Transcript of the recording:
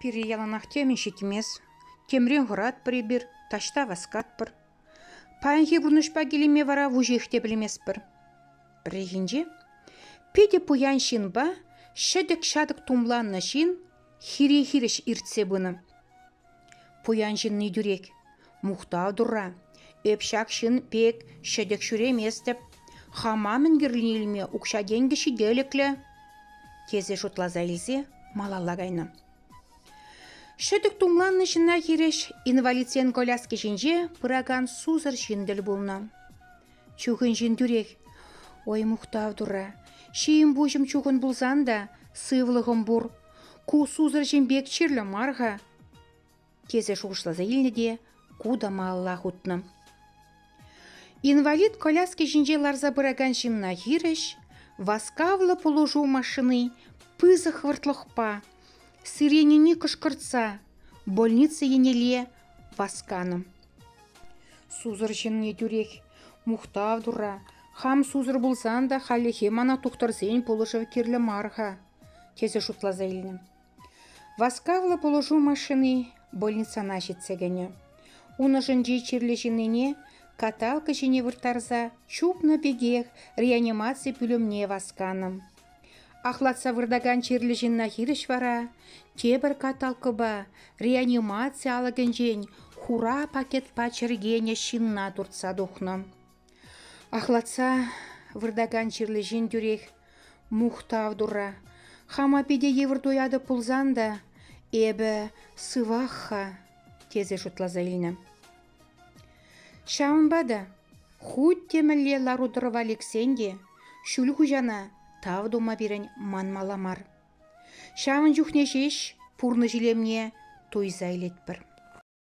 Пире яланах темӗн ҫитмест. Темрен хӑратпӑр эпир, таҫта васкатпӑр. Паянхи пурнӑҫпа килӗме вара вуҫех те пӗлместпӗр. Пӗррехинче питӗ пуян ҫынпа ҫӗтӗк-ҫатӑк тумланнӑ ҫын хире хирӗҫ иртсе пынӑ. Пуян ҫынни тӳрех: «Мухтав Турра, эп ҫак ҫын пек ҫӗтӗк ҫӳреместӗп, хама мӗн кирлине илме укҫа-тенкӗ ҫителӗклӗ», тесе шутласа илсе малалла кайнӑ. Ҫӗтӗк тумланнӑ ҫынна хирӗҫ инвалидсен коляски ҫинче пыракан сусӑр ҫын тӗл пулнӑ. Чухӑн ҫын тӳрех «Ой, мухтав Турра, ҫийӗм-пуҫӑм чухӑн пулсан та сывлӑхӑм пур, Ку сусӑр ҫын пек чирлӗ мар-ха, тесе шухӑшласа илнӗ те ку та малалла хутнӑ. Инвалид коляски ҫинче ларса пыракан ҫынна хирӗҫ васкавлӑ пулӑшу машини пысӑк хӑвӑртлӑхпа, сиренине кӑшкӑртса, больница еннелле васканӑ. Сусӑр ҫынни тӳрех мухтав тура, хам сусӑр пулсан та хальлӗхе мана тухтӑрсен пулӑшӑвӗ кирлӗ мар-ха. тесе шутласа илнӗ. Васкавлӑ пулӑшу машини больницана ҫитсе кӗнӗ. Ун ӑшӗнчи чирлӗ ҫыннине каталка ҫине вырттарса чупнӑ пекех реанимаци пӳлӗмне васканӑ. Ахлатса выртакан чирлӗ ҫынна хирӗҫ вара тепӗр каталкӑпа реанимаци алӑкӗнчен хура пакетпа чӗркенӗ ҫынна туртса тухнӑ. Ахлатса выртакан чирлӗ ҫын тӳрех мухтав турра. «Хама питӗ йывӑр туятӑп пулсан та эпӗ сывах-ха», тесе шутласа илнӗ. Ҫавӑнпа та хуть те мӗнле лару-тӑрӑва лексен те ҫӳл хуҫана тав тума пирӗн манмалла мар. Ҫавӑн чухне ҫеҫ пурнӑҫ илемне туйса илетпӗр.